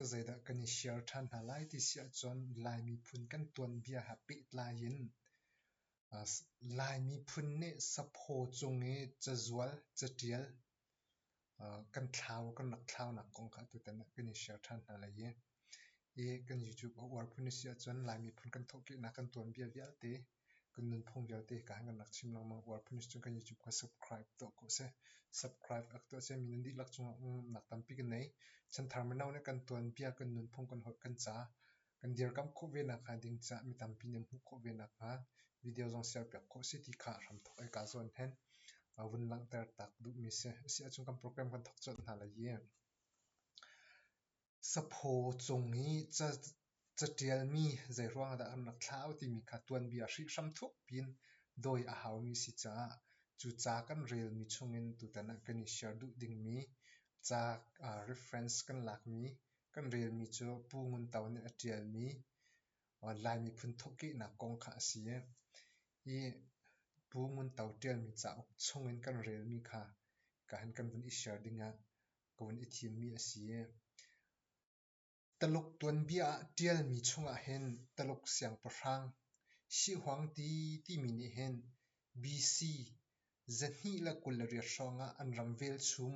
zeidah kan i share ṭhan hna lai ti si ahcun Lai miphun kan tuanbia ha pehtlai in Lai miphun nih saphaw cung i cazual, caṭial kan thlau kan rak thlaunak kong kha tutan ah kan i share ṭhan hna lai i kan YouTube a uar phun a si ahcun Lai miphun kan thawhkehnak kan tuanbia vialte Kan nunphung vialte ka han kan rak chim lengmang. World Police cu kan YouTube kha subscribe tuah ko seh. Subscribe ak tuah seh. Mi nan dihlak cungah umnak tampi kan nei. Chanthar mino nih kan tuanbia, kan nunphung, kan holh, kan ca kan dirkamh khawh ve nakhnga ding caah mi tampi nih an hmuh khawh ve nakhnga video zong siarpiak khawh si ti kha hramthawk i kaa zuam hen. A vun langhter tak duhmi si. Asi ahcun kan program kan thawk colh hna lai i Saphaw cung i catialmi zeiruangah dah an rak thlah timi kha tuanbia hrihhram thukpi in dawi a haumi si caah cu ca kan relmi chungin tutan ah kan i share duh dingmi ca reference kan lakmi kan relmi cu Pu Ngun To nih a ṭialmi Lai miphun thawhkehnak kong kha a si i hi Pu Ngun To ṭialmi cauk chungin kan relmi kha ka han kan vun i share ding ah Kawn i thimmi a si. Taluk tuanbia ah ṭialmi chungah hin Taluk siangpahrang Sihuangti timi nih hin BC zahnih le kul le riat hrawngah an ram velchum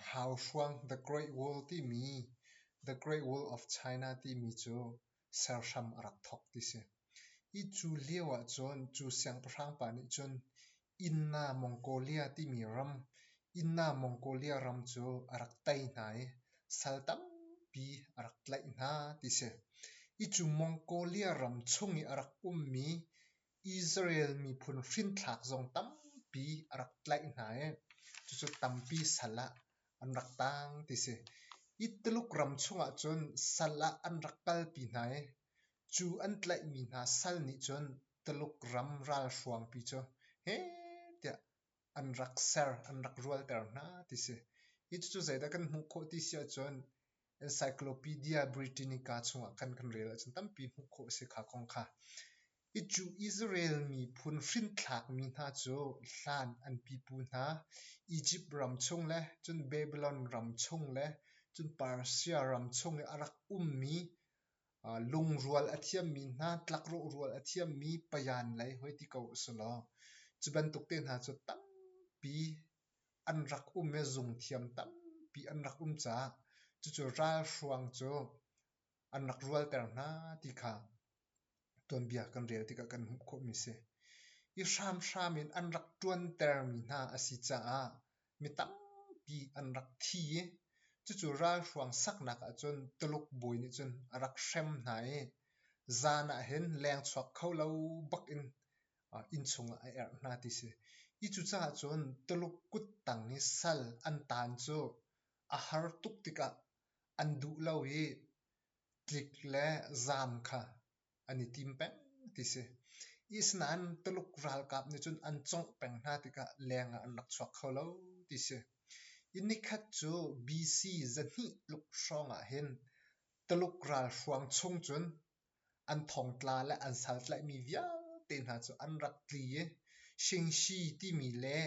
hau hruang The Great Wall timi The Great Wall of China timi cu serhram a rak thawk ti si. Hi cu lio ahcun cu siangpahrang pa nih cun Inna Mongolia timi ram, Inna Mongolia ram cu a rak tei hna i sal tampi a rak tlaih hna ti si. Hi cu Mongolia ram chung i a rak ummi Israel miphun hrinthlak zong tampi a rak tlaih hna i cucu tampi sal ah an rak tang ti si. Hi Tuluk ram chungah cun sal ah an rak kalpi hna i cu an tlaihmi hna sal nih cun Tuluk ram ralhruangpi cu he tiah an rak ser, an rak rualter hna ti si. Hi cucu zeidah kan hmuh khawh ti si ahcun Encyclopedia Britannica chungah khan kan rel ahcun tampi hmuh khawh a si kha kong kha. Hi cu Israel miphun hrinthlakmi hna cu hlan an pipu hna Egypt ram chung le cun Babylon ram chung le cun Persia ram chung i a rak ummi uh, lungrual a thiammi hna tlakrawh rual a thiammi payan lei hoi ti ko a si law cu bantuk te hna cu tampi an rak um i zungthiam tampi an rak um caah cucu ralhruang cu an rak rualter hna ti kha tuanbia kan rel tikah kan hmuh khawhmi si. I hramhram in an rak ṭuantermi hna a si caah mi tampi an rak thi i cucu ralhruang saknak ahcun Tuluk bawi nih cun a rak hrem hna i zan ah hin leng chuak kho lo bak in innchung ah a erh hna ti si. I cucaah cun Tuluk kuttang i sal an taan cu a har tuk tikah an duh lo i tlik le zaam kha an i tim peng ti si. Isnain Tuluk ralkap nih cun an congh peng hna tikah leng ah an rak chuak kho lo ti si. I nikhat cu BC zahnih luk hrawng ah hin Tuluk ralhruang chung cun an thongtla le an saltlaihmi vialte hna cu an rak tli i Shingshi timi le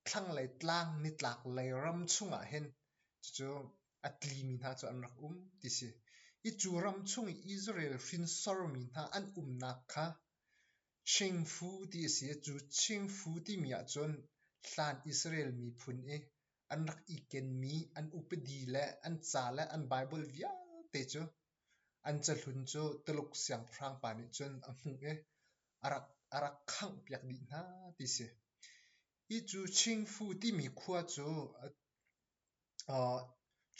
thlanglei tlang nitlaklei ram chungah hin cucu a tlimi hna cu an rak um ti si. I cu ram chung i Israel hrinsormi hna an umnak kha Chingfu ti a si. Cu Chingfu timi ahcun hlan Israel miphun i an rak i kenmi an upadi le an ca le an Baibal vialte cu An cahlun cu Tuluk siangpahrang pa nih cun a hmuh i a rak khanghpiak dih hna ti a si. Hi cu Qingfu timi khua cu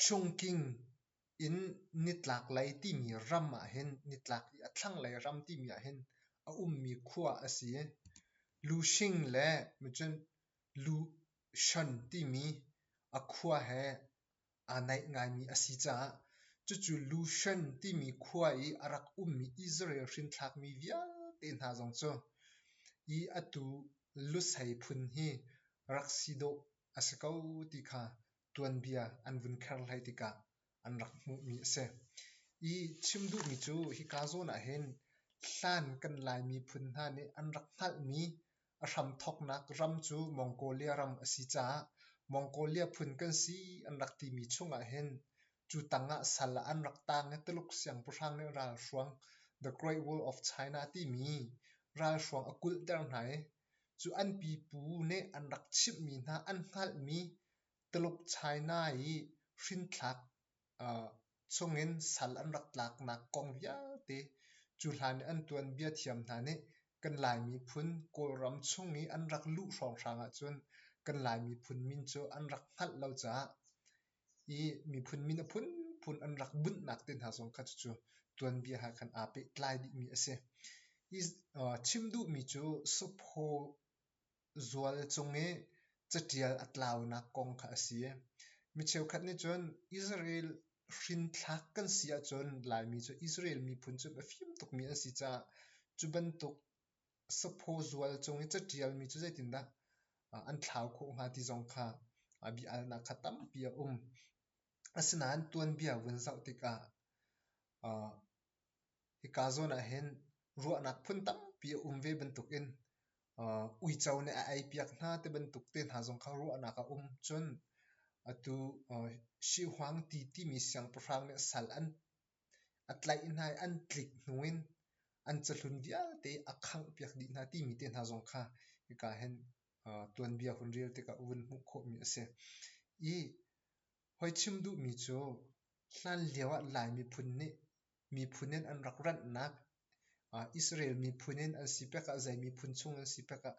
Chungking in nitlaklei timi ram ahhin nitlak i a thlanglei ram timi ahhin a ummi khua a si i Lushing le Lushan timi a khua he aa naih ngaimi a si caah cucu Lushan timi khua i a rak ummi Israel hrinthlakmi vialte hna zong cu i atu Lusei phun hi rak si dawh a si ko ti kha tuanbia an vun kherhlai tikah an rak hmuhmi a si. I chim duhmi cu hika zawn ah hin hlan kan Laimi phun hna nih an rak hngalhmi A hramthawknak ram cu Mongolia ram a si caah Mongolia phun kan si an rak timi chungah hin cu tangah sal an rak tang i Tuluk siangpahrang nih ralhruang The Great Wall of China timi ralhruang a kulhter hna i cu an pipu nih an rak chimhmi hna an hngalhmi Tuluk China i hrinthlak chungin sal an rak tlaknak kong vialte cu hlan i an tuanbia thiam hna nih kan lai miphun kawlram chung i an rak luh hrawnghrang ahcun kan lai miphun min cu an rak hngalh lo caah i miphun min a phunphun an rak bunhnak te hna zong kha cucu tuanbia ha khan aa pehtlai dihmi a si. I chim duhmi cu Supho zual cung i caṭial a tlaunak kong kha a si. Mi cheukhat nih cun Israel hrinthlak kan si ahcun Laimi cu Israel miphun cu a fim tukmi an si caah cu bantuk saphaw zual cung i caṭialmi cu zeitindah an thlau khawh hnga ti zong kha bia-alnak kha tampi a um. Asinain tuanbia vun zoh tikah Hika zawn ahhin ruahnak phun tampi a um ve bantukin uh, uico nih a eipiak hna ti bantuk te hna zong kha ruahnak a um. Cun atu uh, Sihhuang ti timi siangpahrang nih sal an a tlaih hna i an tlik hnu in an cahlun vialte a khanghpiak dih hna timi te hna zong kha hika hin uh, tuanbia hun rel tikah vun hmuh khawhmi a si. I Hoi chim duhmi cu hlanlio ah Lai miphun nih miphun in an rak ranhnak Israel miphun in an si pek ah zei miphun chung an si pek ah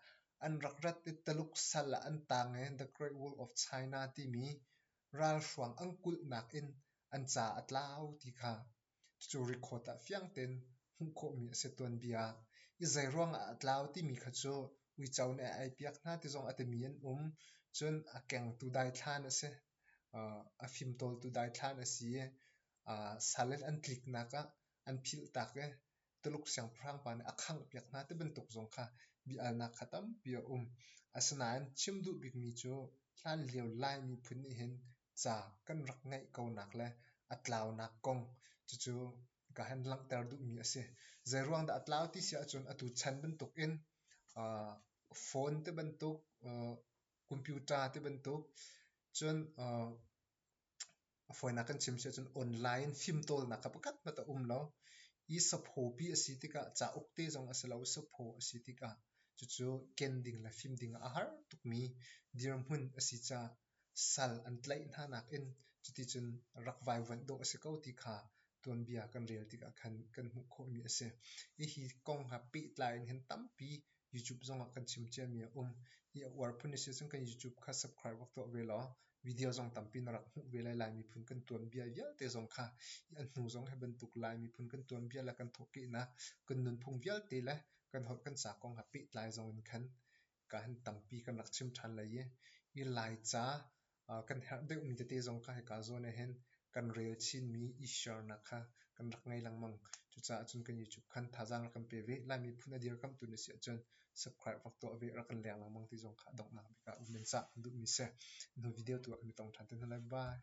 an rak rat i Taluk sal ah an tang i The Great Wall of China timi ralhruang an kulhnak in an ca a tlau ti kha Cucu rikhawt ah fiang tein hmuh khawhmi a si tuanbia. I zeiruangah a tlau timi kha cu uico nih a eipiak hna ti zong a timi an um. Cun a kengtu daithlan a si. a fimtawltu daithlan a si i sal in an tliknak ah an philhtak i Tuluk siangpahrang pa nih a khanghpiak hna ti bantuk zong kha bia-alnak kha tampi a um. Asinain chim duh bikmi cu hlanlio Lai miphun nih hin ca kan rak ngeih konak le a tlaunak kong cucu ka han langhter duhmi a si. Zeiruang dah a tlau ti si ahcun atu chan bantuk in uh, phone ti bantuk, uh, computer ti bantuk, cun uh, A fawinak kan chim si ahcun online fimtawlnak a pakhat hmanh a um lo. I saphopi a si tikah cauk te zong a si lo, sapho a si tikah cucu ken ding le fim ding a har tukmi dirhmun a si caah sal an tlaih hna nakin cuticun rak vaivuanh dawh a si ko ti kha tuanbia kan rel tikah khan kan hmuh khawhmi a si. Hihi kong ha pehtlai in hin tampi YouTube zong ah kan chim ciami a um. Hi a uar phun a si cun kan YouTube kha subscribe rak tuah ve law video zong tampi na rak hmuh ve lai. Lai miphun kan tuanbia vialte zong kha hi a hnu zong hi bantuk Lai miphun kan tuanbia le kan thawhkehnak kan nunphung vialte le kan holh kan ca kong ha pehtlai zong in khan ka han tampi kan rak chim ṭhan lai i, hi Laica kan herh deuhmi tete zong ka hika zawn ahhin kan rel chinmi i-share-nak kha kan rak ngei lengmang. Cucaah cun kan YouTube khan thazaang rak kan pe ve. Lai miphun a dirkamhtu na si ahcun subscribe rak tuah ve, rak kan leng lengmang ti zong kha donghnak bik ah um men cah kan duhmi si. Nu video tu ah kan i tong ṭhan te hna lai. Bye!